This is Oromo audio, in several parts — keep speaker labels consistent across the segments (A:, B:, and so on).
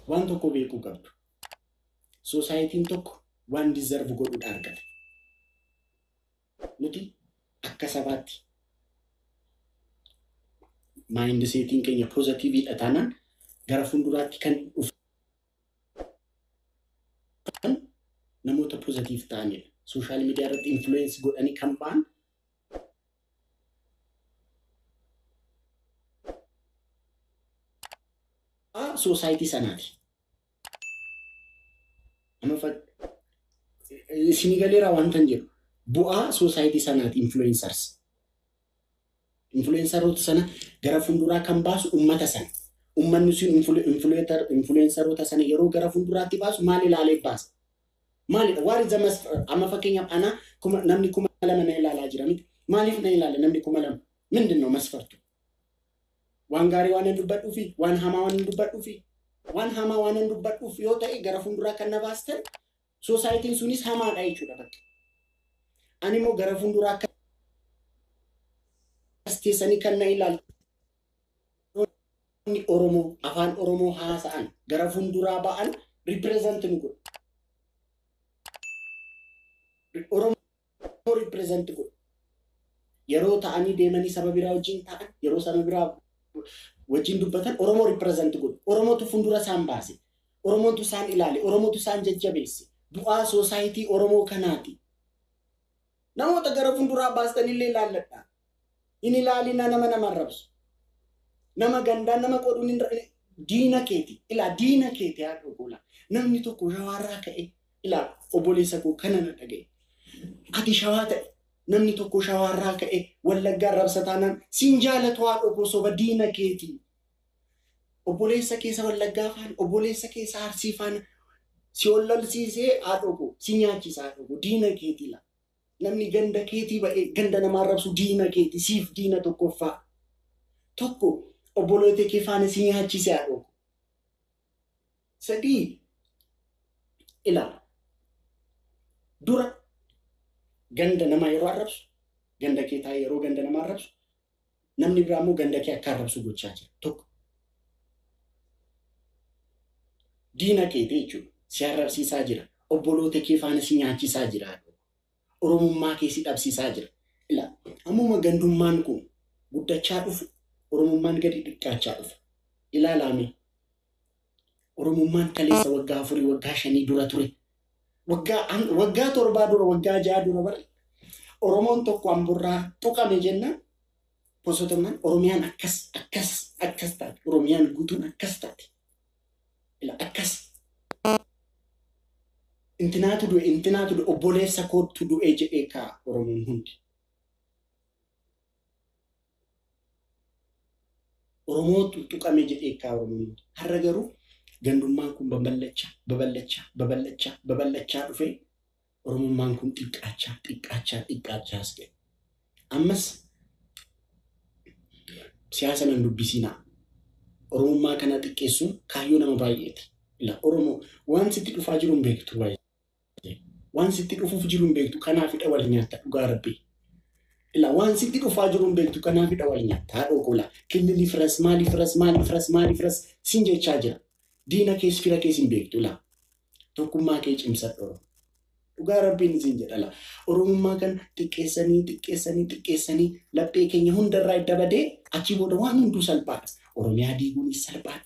A: Waan tokko beekuu qabdu. Soosaayitiin tokko waan dizarvu godhudha argata. Nuti akka sabaatti maayindiseetiin keenya poozatiiviidha taanaan gara fuulduraatti kan dhufu namoota poozatiiv ta'anidha. Sooshaal miidiyaa irratti influence godhanii kan ba'an soosaayitii sanaati. Isinii galeeraa wanta hin jedhu bu'aa soosaayitii sanaati influencers. Influenceroota sana gara fuulduraa kan baasu ummata sana. Ummanni sun influenceroota sana yeroo gara fuulduraatti baasu maal ilaalee baasa? Maalidha? What is the must? Amma fakkeenyaaf ana kuma, namni kuma lama na ilaalaa jira miti. Maaliif na ilaala namni kuma lama? Mindin no masfartu? Waan gaarii waan hin dubbadhuufi? Waan hamaa waan hin dubbadhuufi? Waan hamaa waan hin dubbadhuuf yoo ta'e gara fuulduraa kan na baastan soosaayitiin sunis hamaadha jechuudha bakka. Ani immoo gara fuulduraa akka keessanii kan na ilaaltan Namoonni Oromoo Afaan Oromoo haasa'an gara funduraa ba'an represent nu godhu. Oromoo represent godhu. Yeroo ta'anii deemanii saba biraa wajjin ta'an, yeroo saba biraa wajjin dubbatan Oromoo represent godhu. Oromootu fundura isaan baase. Oromootu isaan ilaale. Oromootu isaan jajjabeesse. Bu'aa soosaayitii Oromoo kanaati. Namoota gara funduraa baastanillee ilaalladhaa. Hin ilaalinaa nama nama arrabsu. Nama gandaan nama qooduun hin ra- diina keeti. Ilaa diina keeti haa ta'u goolaa. Namni tokko shawaarraa ka'e ilaa obboleessa koo kana na dhaga'e. Ati shawaa ta'e namni tokko shawaarraa ka'e wallaggaa arrabsa taanaan siin jaalatu haa dhokoo soba diina keeti. Obboleessa kee isa Wallaggaa faana, obboleessa kee isa Arsii faana si ol lolsiisee haadhoo koo si nyaachisa haadhoo koo diina keetii laa. Namni ganda keetii ba'ee ganda namaa arrabsu diina keeti siif diina tokkoffaa. Tokko obboloota kee faana si nyaachise haadhoo koo. Sadii ilaala. Dura ganda namaa yeroo arrabsu ganda kee taa'ee yeroo ganda namaa arrabsu Namni biraa immoo ganda kee akka arrabsu gochaa jira. Tokko. Diina keeti jechuudha. Si arrabsiisaa jira. Obboloota kee faana si nyaachisaa jira. Oromummaa kee si dhabsiisaa jira. Ilaa ammuma gandummaan kun guddachaa dhufu Oromummaan gadi xiqqaachaa dhufa. Ilaalaamee Oromummaan kaleessa waggaa afurii waggaa shanii dura ture. Waggaa an- waggaa torbaa dura waggaa ja'a dura bar Oromoon tokko amburraa tuqame jennaan osoo tonnaan Oromiyaan akkas akkas akkas taate Oromiyaan guutuun akkas taate Ila, akkas intinaatu du'e intinaatu du'e obboleessa koottu du'e jedhee kaa Oromoon hundi. Oromoo xuxxuqame jedhee kkaa Oromoon hin jedhu. Har'a garuu gandummaan kun babal'achaa, babal'achaa, babal'achaa, babal'achaa dhufee Oromummaan kun xiqqaachaa, xiqqaachaa, xiqqaachaa as ga'e. Ammas siyaasa nan dubbisiinaa. Oromummaa kana xiqqeessuun kaayyoo nama baay'eeti. Ila Oromoo waan sitti dhufaa jiru hin beektu. Waan sitti dhufuuf jiru hin beektu kanaafidha wal nyaatta dhugaa rabbii. Ila waan sitti dhufaa jiru hin beektu kanaafidha wal nyaatta haadhoo koola. Killili firas maali firas maali firas maali firas sin jechaa jira. Diina kees fira kees hin beektu ila. Tokkummaa kee cimsadhu Oromoo. Dhugaa rabbiin isin jedhala. Oromummaa kan xiqqeessanii xiqqeessanii xiqqeessanii laphee keenya hundarraa edda badee achii booda waan hunduu salphaadha. Oromiyaa diiguunis salphaadha.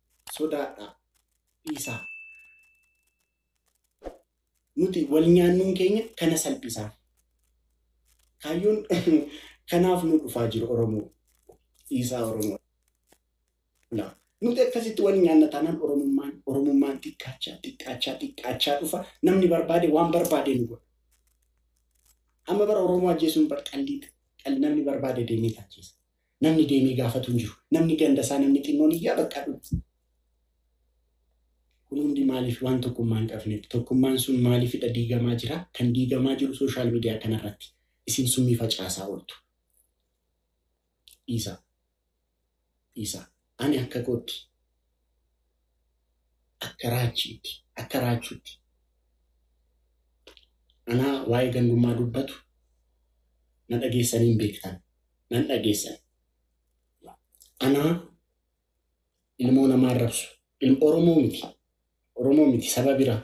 A: sodaadhaa dhiisaa. Nuti wal nyaannuun keenya kana salphisaaf. Kaayyoon kanaaf nu dhufaa jiru Oromoo. Dhiisaa Oromoo. Laa. Nuti akkasitti wal nyaanna taanaan Oromummaan Oromummaan xiqqaachaa xiqqaachaa xiqqaachaa dhufa namni barbaade waan barbaade nu godha. Amma bara Oromoo ajjeesuun bar qalliidha. Qalli namni barbaade deemee ajjeesa. Namni deemee gaafatu hin jiru. Namni ganda isaa namni xinnoon iyyaa bakka dhufu. Kun hundi maaliif waan tokkummaa hin qabneef. Tokkummaan sun maaliifidha diigamaa jira. Kan diigamaa jiru sooshaal miidiyaa kanarratti. Isin summii facaasaa ooltu. Dhiisaa. Dhiisaa. Ani akka kootti, akka raachiitti, akka raachuutti anaa waa'ee gandummaa dubbatu na dhageessanii hin beektan, nan dhageessan. Anaa ilmoo namaa arrabsu, Oromoo miti, Oromoo miti saba bira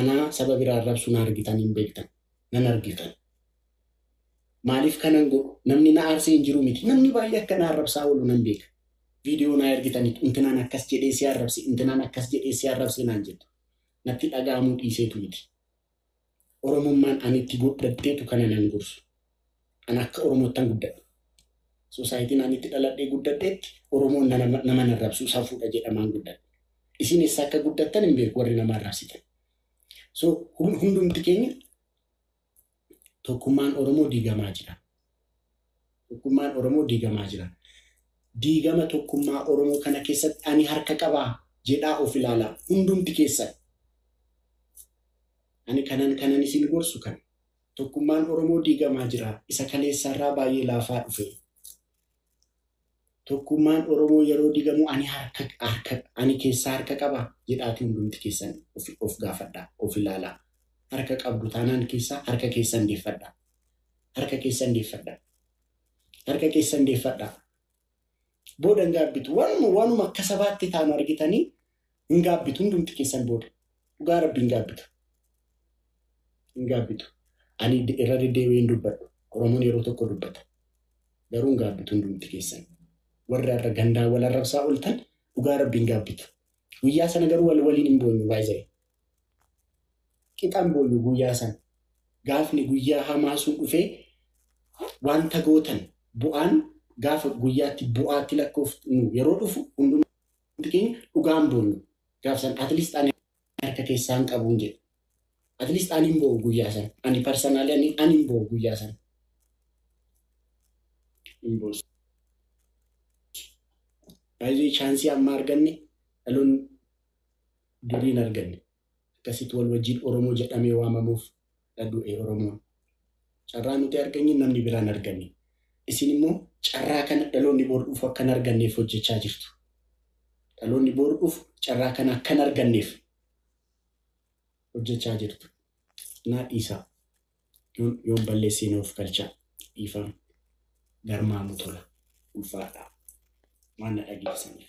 A: anaa saba bira arrabsu na argitan hin beektan nan argitan maaliif kanan godhu namni na aarsee hin jiru miti namni baay'ee akka na arrabsaa oolu nan beeka viidiyoo naa ergitaniit intinaan akkas jedhee si arrabse intinaan akkas jedhee si arrabse naan jettu natti dhaga'amuu dhiiseetu miti Oromummaan ani itti gudhadheetu kana nan gorsu. An akka Oromoottan guddadhe. Sosaayitiin ani itti dhaladhee guddadheetti Oromoon nama nama hin arrabsu safuudha jedhamaan guddadhe. Isin eessa akka guddattan hin beeku warri nama arrabsitan. So hundumti keenya tokkummaan Oromoo diigamaa jira. Tokkummaan Oromoo diigamaa jira. Diigama tokkummaa Oromoo kana keessatti ani harka qabaa? jedhaa of ilaalaa hundumti keessan. Ani kanan kanan isin gorsu kana. Tokkummaan Oromoo diigamaa jira. Isa kaleessaarraa baay'ee laafaa dhufe. Tokkummaan Oromoo yeroo digamu ani harka harka ani keessaa harka qabaa? jedhaatii hundumti keessan of of gaafadhaa, of ilaalaa. Harka qabdu taanaan keessaa harka keessan deeffadhaa. Harka keessan deeffadhaa. Harka keessan deeffadhaa. Boodan gaabbitu. Wanuma wanuma akka sabaatti taanu argitanii Hin gaabbitu hundumti keessan booda. Dhugaa rabbi hin gaabbitu. Hin gaabbitu. Ani irra deddeebi'ee hin dubbadhu. Oromoon yeroo tokko dubbata. Garuu hin gaabbitu hundumti keessan. Warri har'a gandaa wal arrabsaa ooltan dhugaa rabbi hin gaabbitu. Guyyaa sana garuu wal waliin hin boonyu baay'ee. Qixaan boonyu guyyaa sana. Gaafni guyyaa hamaa sun dhufee wanta gootan bu'aan gaafa guyyaatti bu'aatti lakkoofnu yeroo dhufu hundumaa Wanti keenya dhugaan boonyu gaaf san at least ani harka keessaan qabuun jedhe. At least ani hin boo'u guyyaa san. Ani personally ani ani hin boo'u guyyaa san. Hin boosu. Baay'ee chaansii amma arganne dhaloonni durii hin arganne. Akkasitti wal wajjiin Oromoo jedhamee waamamuuf dha du'e Oromoon. Carraa nuti arganye namni biraa hin arganne. Isin immoo carraa kana dhaloonni bor dhufu akka hin arganneef hojjechaa jirtu. Dhaloonni bor dhufu carraa kana akka hin arganneef hojjechaa jirtu. Naa dhiisaa. Yoon, yoon balleessee na ofkalchaa. Dhiifama. Garmaamu tola. Ulfaadhaa. Waan na dhageessaniif.